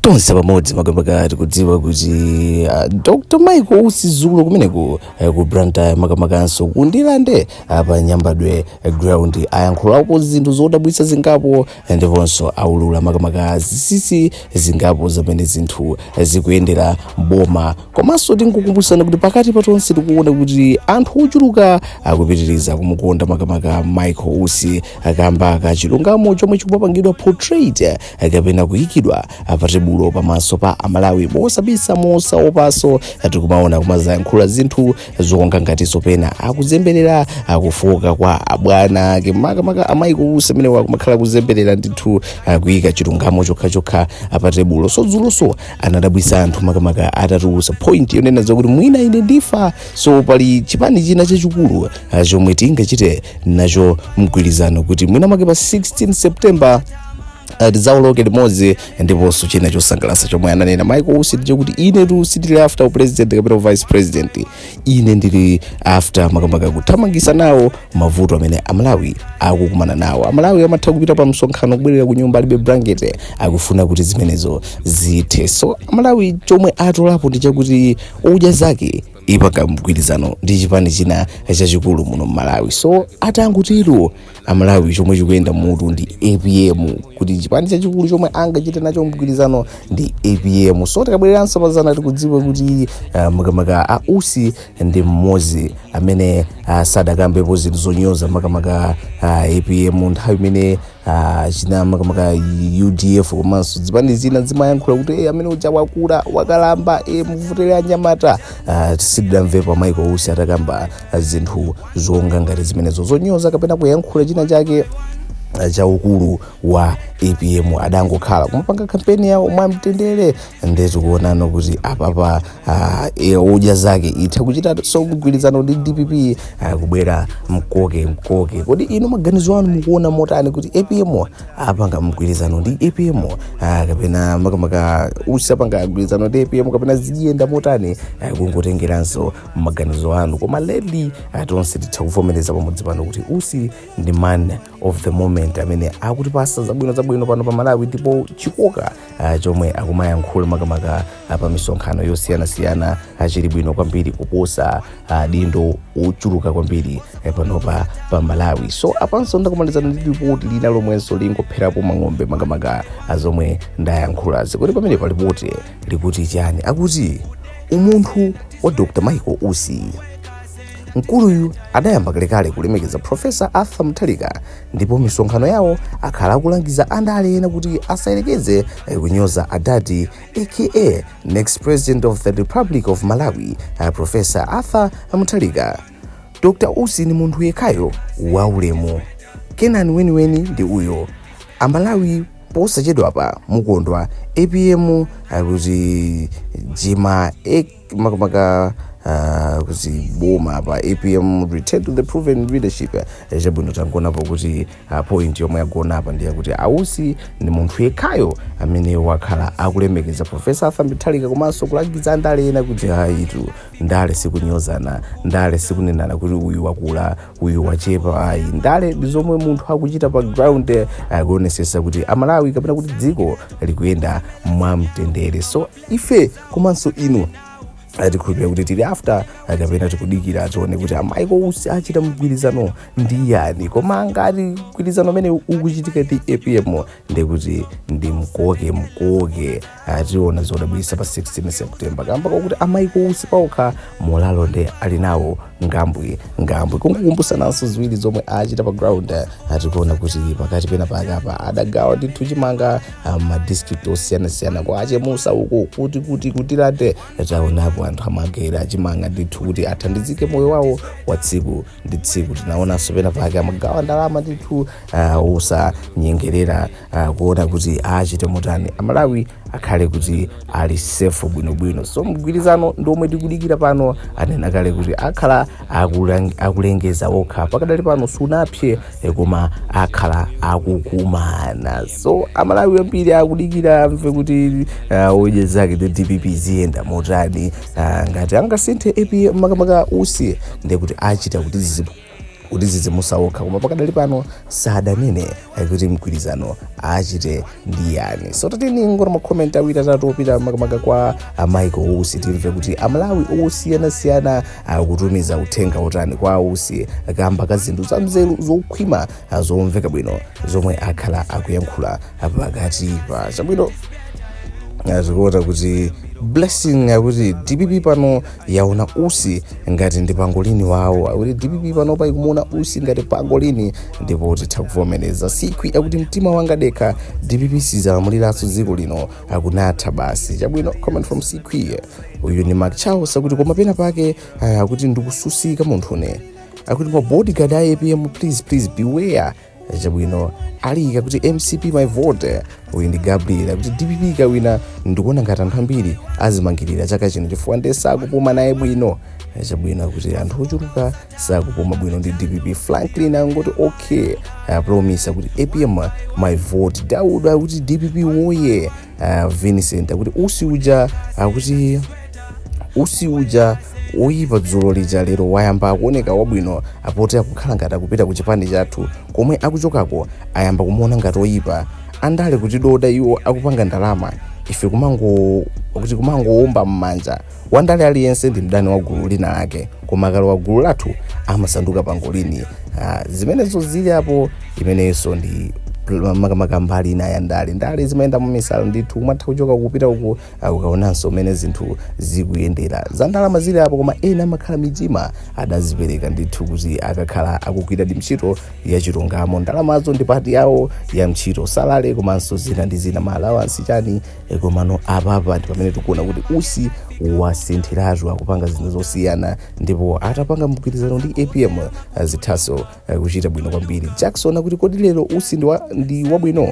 tonse pamodzi makamaka tikudziwa kuti uh, dr michael usi dzulo kumeneko uh, ku blantyre makamakanso kundirande uh, pa nyambadwe uh, ground ayankhulapo zinthu zodabwitsa zingapo uh, ndiponso aulula makamaka zinsinsi zingapo zamene zinthu uh, zikuyendera mboma komanso tikukumbutsana kuti pakati pa tonse tikuona kuti anthu ochuluka akupitiriza kumukonda makamaka michael usi kamba ka chilungamo chomwe chikumapangidwa portrait uh, kapena kuyikidwa patebulo pamaso pa amalawi mosabisa mosaopanso tikumaona kumadzayankhula zinthu zonga ngati zopenga akuzemberera kufuka kwa abwana ake makamaka a michael usi amene akumakhala kuzemberera ndithu akuyika chilungamo chokhachokha patebulo so dzulonso anadabwitsa anthu makamaka atatulutsa point yonena zakuti mwina ife ndifenso pali chipani china chachikulu ah, chomwe tingachite nacho mgwirizano kuti mwina make pa 16 september Eh, tidzawoloke limodzi ndiponso china chosangalatsa chomwe ananena michael usi ndi choti ine tu sindili after upresident kapena vice president ine ndili after makamaka kuthana nawo mavuto amene amalawi akukumana nawo amalawi amatha kupita pa msonkhano kubwerera ku nyumba alibe blanket akufuna kuti zimenezo zithe so amalawi chomwe atolapo ndi chakuti odya zake ipanga mgwirizano ndi chipani china chachikulu muno mmalawi so atangotero amalawi chomwe chikuyenda mmutu ndi apm kuti chipani chachikulu chomwe angachite nacho mgwirizano ndi apm so tikabwereranso pazana tikudziwa kuti uh, makamaka a usi ndi mmodzi amene uh, sadakambepo zinthu zonyoza makamaka uh, apm nthawi imene uh, china makamaka udf komanso zipani zina zimayankhula kuti hey, amene uja wakula wakalamba e, muvotere anyamata uh, sitidamvepo michael usi atakamba zinthu zonga ngati zimenezo zonyoza kapena kuyankhula china chake cha ukulu wa apm adangokhala kumapanga kampeni yawo mwamtendere nde zikuoneka kuti apapa uh, odya zake itha kuchitanso mgwirizano ndi dpp uh, kubwera mkoke mkoke kodi inu maganizo anu mukuona motani kuti apm apanga mgwirizano ndi apm uh, kapena makamaka usi apanga mgwirizano ndi apm kapena ziyenda motani uh, kungotengeranso maganizo anu koma lately ah, tonse titha kuvomereza pamodzi pano kuti usi ndi man of the moment amene akutipatsa zabwino zabwino pano pa malawi ndipo chikoka ah, chomwe akumayankhula makamaka ah, pa misonkhano yosiyanasiyana ah, chili bwino kwambiri kuposa adindo ochuluka kwambiri eh, panopa pa malawi so apanso ndakumanizana ndi lipoti lina lomwenso lingopherapo mphongo makamaka pa zomwe ndayankhulazi kuti pamene palipoti likuti chani akuti umunthu wa dr michael usi mkuluyu adayamba kalekale kulemekeza profesa arthur mutharika ndipo misonkhano yawo akhala akulangiza andale ena kuti asayerekeze eh, kunyoza adadi aka next president of the republic of malawi eh, profesa arthur mutharika dr usi ni munthu yekhayo waulemu kenani weniweni ndi uyo amalawi posachedwapa mukondwa apm akutijima makamaka uh, kuziboma apa apm return to the proven leadership Eh, chabwino tangonapo kuti uh, point yomwe yagona apa ndi yakuti ausi ndi munthu yekhayo amene wakhala akulemekeza profesa arthur mutharika komanso kulangiza andale ena kuti ayitu ndale sikunyozana ndale sikunenana kuti uyu wakula uyu wachepa ayi ndale ndi zomwe munthu akuchita pa ground akuonesesa kuti amalawi kapena kuti dziko likuyenda mwamtendere so ife komanso inu tikhulupirira kuti tili after ah, kapena tikudikira tione kuti a michael usi achita mgwirizano ndi yani koma ngati mgwirizano umenewu ukuchitika ndi apm ndikuti ndi mkoke mkoke ah, tiona zodabwisa pa 16 september kamba kakuti a michael usi paokha moralo nde ali nawo ngambwe ngambwe kungokumbusananso ziwiri zomwe achita pa ground ah, tikuona kuti pakati pena pake apa adagawa ndithu chimanga ah, ma district osiyanasiyana kwa achemusa uko kuti kuti kutiliate taonapo anthu amagawira chimanga ndithu kuti athandizike moyo wawo wa tsiku ndi tsiku tinaonanso pena pake amagawa ndalama ndithu uh, osanyengerera uh, kuona kuti achite motani amalawi akhale kuti ali safe bwinobwino so mgwirizano ndi omwe tikudikira pano anena kale kuti akhala akulang- akulengeza okha pakadali pano sunapse eh, koma akhala akukumana so amalawi ambiri akudikira amve kuti uh, odya zake ndi dpp ziyenda motani Ah, ngati angasinthe apa makamaka usi ndiye kuti achita kuti zizibu kuti zizimuzaokha koma pakadali pano sadanene kuti mgwirizano achite ndi yani so tatiyeni tingoona makomenti awiri atatu opita makamaka kwa a michael usi timve kuti amalawi osiyanasiyana akutumiza uthenga otani kwa usi kamba ka zinthu za mzeru zokhwima ah, zomveka bwino zomwe akhala akuyankhula apa pakati pa chabwino izi zikuonetsa kuti blessing akuti dpp pano yaona usi ngati ndi pangolini wawo akuti dpp pano pa ikumuona usi ngati pangolini ndipo titha kuvomereza sikwi akuti mtima wanga dekha dpp sizalamuliranso dziko lino akunatha basi chabwino comment from sikwi uyu ni mark charles akuti koma pena pake ah, akuti ndikususika munthu ine akuti kwa bodyguard a apm please please beware chabwino waika kuti mcp my vote uyu ndi gabriel kuti dpp ikawina ndikuona ngati anthu ambiri azimangirira chaka chino chifukwa nde sakupuma naye bwino chabwino akuti anthu ochuluka sakupuma bwino ndi dpp franklin wangoti okay promise akuti apm my vote daud akuti dpp woye uh, vincent akuti usi uja akuti usi uja oyipa dzulo lija lero wayamba akuoneka wabwino poti akukhala ngati akupita ku chipani chathu komwe akuchokako ayamba kumuona ngati oyipa andale kutidoda iwo akupanga ndalama ife kumangoti kumangowomba m'manja Wandale aliyense ndi mdani wa gulu lina lake koma akalowa gulu lathu amasanduka pangolini. Ah, zimenezo zili apo imeneyonso ndi pl- makamaka mbali ina ya ndale ndale zimayenda mumisala ndithu umatha kuchoka kupita uku ah, ukaonanso mmene zinthu zikuyendera za ndalama zili apo koma ena amakhala mitima adazipereka ndithu kuti akakhala akugwira ndi ntchito ya chilungamo ndalamazo ndi pati yawo ya ntchito salary komanso zina ndi zina ma allowance chani E, komano apapa ndi pamene tikuona kuti usi wasinthiratu akupanga zinthu zosiyana ndipo atapanga mgwirizano ndi apm eh, zithanso eh, kuchita bwino kwambiri jackson akuti kodi lero usi ndi wa- ndi wabwino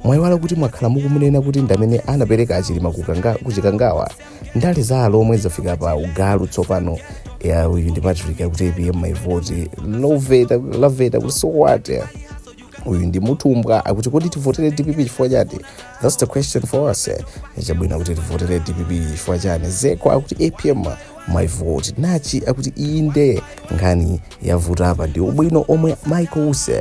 mwayiwala kuti mwakhala mukumunena kuti ndi amene anapereka achilima kukanga- kuchikangawa ndale za alomwe zafika pa ugalu tsopano ya uyu ndi patrick akuti apm my vote loveta laveta kuti so what uyu ndi mutumbwa akuti kodi tivotere dpp chifukwa chati thats the question for us eh. chabwino kuti tivotere dpp chifukwa chani zeko akuti apm my vote nachi akuti inde nkhani yavuta apa ndi ubwino omwe michael usi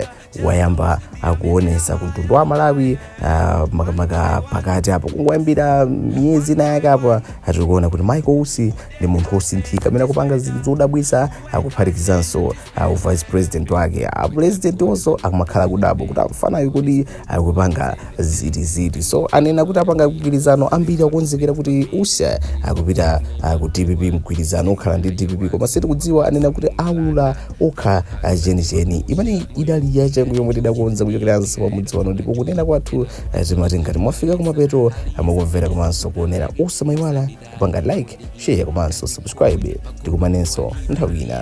wayamba akuonesa ku mtundu wa malawi ah, makamaka pakati apo kungoyambira miyezi inayake apa tikuona kuti michael usi ndi munthu wosinthika amene akupanga zinthu zodabwitsa akuphatikizanso au vice president wake a president onso akumakhala kudabwa kuti amfanayo kodi akupanga ziti ziti so anena kuti apanga mgwirizano ambiri akonzekera kuti usi akupita ah, ku dpp mgwirizano okhala ndi dpp koma sitikudziwa anena kuti aulula okha ah, chenicheni imeneyi idali yachangu yomwe tidakonza kuchokera mnzi wa mudzi wano ndipo kunena kwathu ah, timati ngati mwafika kumapeto a kumvera komanso kuonera osamayiwala kupanga like share komanso subscribe tikumanenso nthawi ina